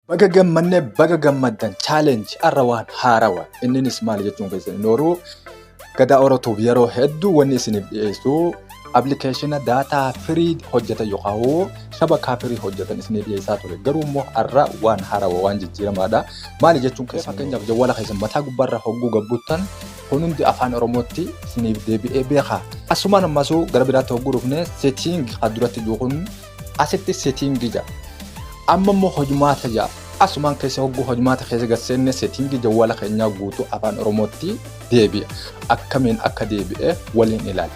Baga gammanne baga gammaddan challenge arra waan haarawa inninis maali jechuun keessan inni horuu gadaa oratuuf yeroo hedduu wanni isiniif dhiyeessu appilikeeshina daataa firii hojjetan yookaan hoo shabakaa firii hojjetan isiniif dhiyeessaa ture garuu immoo arra waan haarawa waan jijjiiramaadha maali jechuun keessan fakkeenyaaf jawwala keessan mataa gubbaarra hogguu gabbuttan kun hundi afaan oromootti isiniif deebi'ee beekaa asumaan ammasuu gara biraatti hogguu dhufne setting kan duratti jiru kun Asitti setting 6. Amma immoo hojmaata 6. Asumaan keessa hogguu hojmaata keessa gad seenne setting jawwala keenyaa guutuu afaan oromootti deebi'a. Akkamiin akka deebi'e waliin ilaala.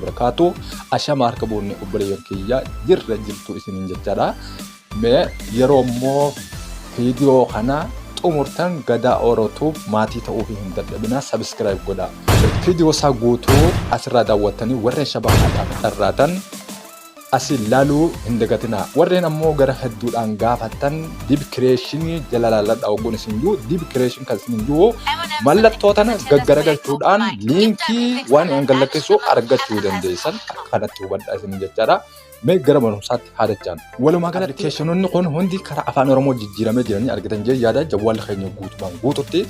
barakaatu ashama harka boonne obboleeyyan kiyya jirra jirtu isiniin jechaadha. Mee yeroo immoo viidiyoo kana xumurtan Gadaa Oro Tube maatii ta'uu fi hin dadhabinaa subscribe godhaa. Viidiyoo isaa guutuu asirraa daawwattanii warreen shabahaadhaaf dharraatan asi laaluu hin dagatinaa. Warreen ammoo gara hedduudhaan gaafattan dib kireeshinii jala laaladha ogguun isin jiru dib kireeshin kan isin jiru mallattoo tana gaggaragalchuudhaan liinkii waan an gallakkeessu argachuu dandeessan akka kanatti hubadha isin jechaadha. Mee gara barumsaatti haa dachaan. Walumaa galatti appilikeeshinoonni kun hundi karaa afaan Oromoo jijjiiramee jiranii argitan jee yaada jawwaalli keenya guutumaan guututti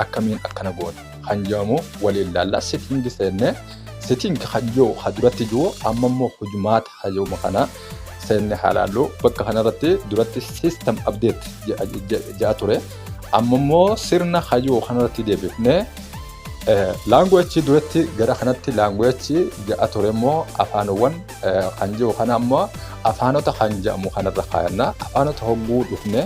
akkamiin akkana goone kan jedhamu waliin laalla setting seenne setting kan jiru kan duratti jiru amma immoo hojmaata kan jedhamu kana seenne haa laallu bakka kanarratti duratti system update jedha ture amma immoo sirna kan jiru kanarratti deebifne laanguweechi duratti gara kanatti laanguweechi jedha ture immoo afaanowwan kan jiru kana ammoo afaanota kan jedhamu kanarra kaayanna afaanota hogguu dhufne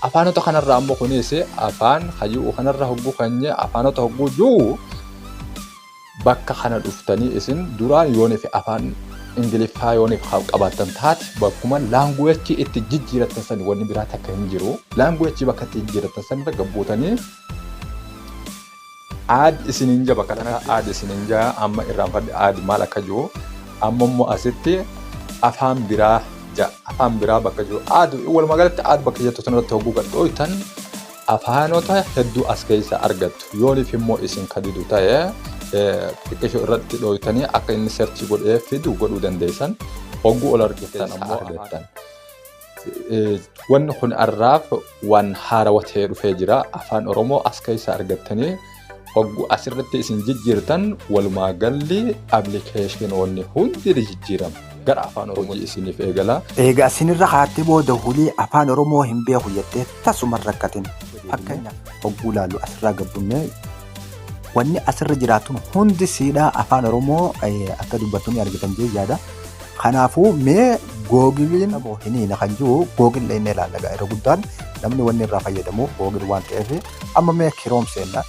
afaanota kanarra ammoo kunis afaan hayyuu kanarra hogguu kanye afaanota hogguu jiru bakka kana dhuftanii isin duraan yooniif afaan ingiliffaa yooniif qabaatan taate bakkuma laanguweechi itti jijjiiratan san wanni biraa takka hin jiru laanguweechi bakka itti jijjiiratan san irra gabbuutanii add isinin ja bakka takka add isinin ja amma irraanfadhe add maal akka jiru amma immoo asitti afaan biraa ja afaan biraa bakka jiru add walumaa galatti add bakka jettu tan irratti hogguu gad dhooytan afaanota hedduu as keessa argattu yooniif immoo isin kadidu ta'e xiqqisho irratti dhooytanii akka inni serchi godhee fidu godhuu dandeessan hogguu ol argittan ammoo argattan. Wanni kun har'aaf waan haarawa ta'ee dhufee jira. Afaan Oromoo as keessa argattanii oggu asirratti isin jijjiirtan walumaa galli appilikeeshinoonni hundi ni jijjiiramu. Gara afaan Oromoo isiniif eegala. Eega asinirra kaatee booda hulii afaan Oromoo hin beeku jettee tasuma hin rakkatin. Fakkeenyaaf hogguu ilaallu asirraa gabbunnee Wanni asirra jiraatun hundi siidhaa afaan Oromoo akka dubbattu ni argitan jee yaada. Kanaafuu mee googiliin hiniina kan jiru googil dhaqnee ilaalla irra guddaan namni wanni irraa fayyadamu googil waan ta'eef amma mee kiroom seenna.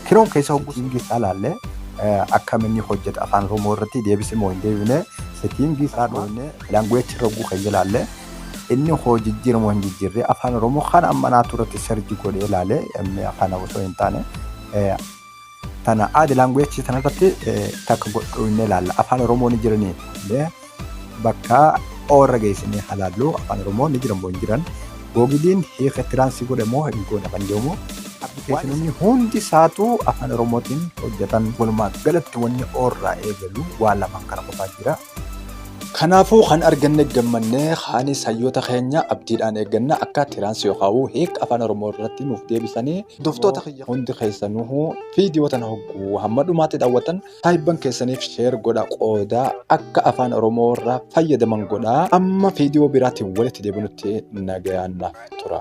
Kiroom keessa hogguu siingii isaa ilaalle akkam inni hojjeta afaan Oromoo irratti deebisee moo hin deebine setiingii isaa dhoofne laanguweechi irra hogguu keenya ilaalle. Inni hoo jijjiire moo hin jijjiirre afaan oromoo kana amma naatu irratti serji godhee ilaale kana osoo hin taane tana aadi laanguweechi tana irratti takka godhu inni ilaalla afaan oromoo ni jiranii illee bakka oorra geessinee halaallu afaan oromoo ni jiran moo hin jiran googiliin hiika tiraansii godhe moo hin goone kan jedhamu appilikeeshinoonni hundi isaatu afaan oromootiin hojjetan walumaa galatti wanni oorraa eegalu waan lamaan kana qofaa jira. Kanaafuu kan arganne gammanne kaanis hayyoota keenya abdiidhaan eegganna akka tiraansi yookaawuu hiik afaan oromoo irratti nuuf deebisanii hordoftoota kiyya hundi keessanuu viidiyoo tana hogguu hamma dhumaatti daawwatan saahibban keessaniif sheer godha qooda akka afaan oromoo irraa fayyadaman godha amma viidiyoo biraatiin walitti deebinutti nagayaan naaf tura.